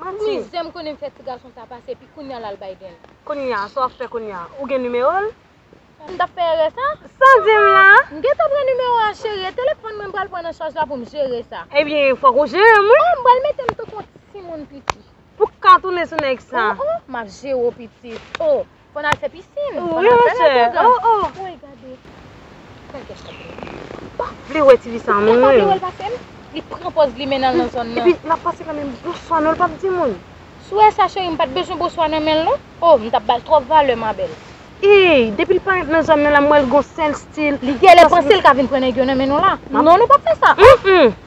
Manti. Ti zen m konnen fè ti gason sa pase epi kounya lal bay den. Kounya sa wap fè kounya ou gen nimero l. M tap fè erè sa. Saw di m la. M gentan pran nimero a cheri e telefòn mwen m pral pran nan chaj la poum jere sa. Ebyen fok ou jere m wi. Oh m pral mete m tankou yon ti moun piti. Pou ka tounen sou nèg sa. Oh oh map jere w piti oh. Konn al fè pisin. Konn al fè lè bonjan. Wi ma chè. Woy gade. Gade kèt chat mwen. M pa vle wè tifi sa non mwen. M pa vle wè l pase m. Li pran pòz li mennen l nan zòn nan. Epi l ap pase nan men m. Bonswa non l pa di moun. Sou wè sa cheri m pa t bezwen bonswa nan men l non. Oh m t ap ba l twòp valè ma bèl. Eyy depi l parèt nan zòn nan la m wè l gon sèl stil. Li gèlè panse l ka vin pran nèg yo nan men nou la. Non nou p ap fè sa.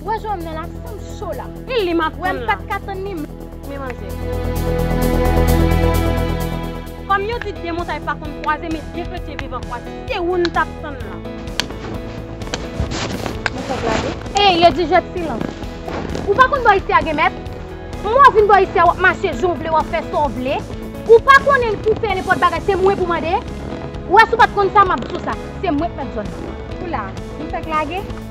Ou wè jan nan la san m cho la. Li li map tann la. Ou wè m pat ka tann li men manzè. Kòm yo di 2 montay pa konn kwaze men 2 kretyen viv an kwaze se ou n tap tann la. Bon fè blague. Ey le dijèt silans. Ou pa konn bò isi a gen mèt. Mwen wè w vin bò isi a wap mache jan w vle wap fè sa w vle. Ou pa konnen pou w fè nenpòt bagay se mwen pou w mande. Ou wè si w pat konn sa map di w sa. Se mwen k mèt zòn nan. Ou la. M fèk lage.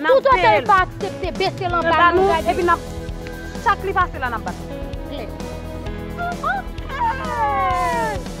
Tout otan l pa aksepte bese l anba nou gade. Epi nap chak li pase la nap bat li. Klè. Ooh ooh ooh.